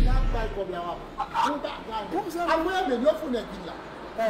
Lap bay kob la wap Pou bagay. Bon zam. Al mwen renmen yo fou nèg vin la.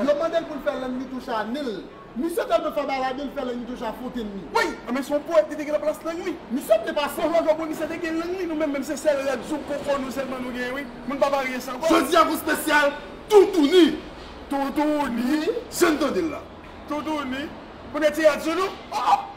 Yo mandel poul fè lang nitouche a nil. Misye telman fè bay la nil fè lang nitouche a fonte nil. Woy! Anmwey son poète li te gen nan plas lang li. Misye byen pase. Bon jojo bon misye te gen lang li nou menm menm se sèl rad zouk koko nou sèlman nou gen wi moun pa marye san kòb. Jodi a gon spesyal toutouni. Toutouni. Jan n tande l la. Toutouni. Pou nèg ti rad sou nou. Oh oh.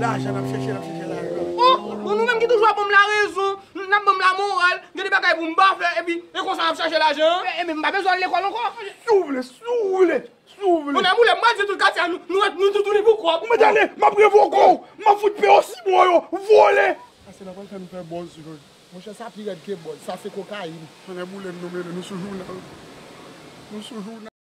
Lajan nap chèche nap chèche lajan. Oh! Bon nou menm ki toujou ap banm la rezon, nap banm la moral, gen de bagay poum pa fè epi e konsa nap chache lajan an. Enben m pa bezwen al lekòl ankò? Si w vle, si w vle, si w vle. Bonè boulem, mwen di tout katye a nou ret nou toutouni pou kòb. Mwen tande, map revoke w, map fout peye w simon yo, vole. Ase nan pral fè nou fè bòz joj. Monchè sa pi rèd ke bòz, sa se kokayin. Tonnè boulem nou mele nou sou jounal, nou sou jounal.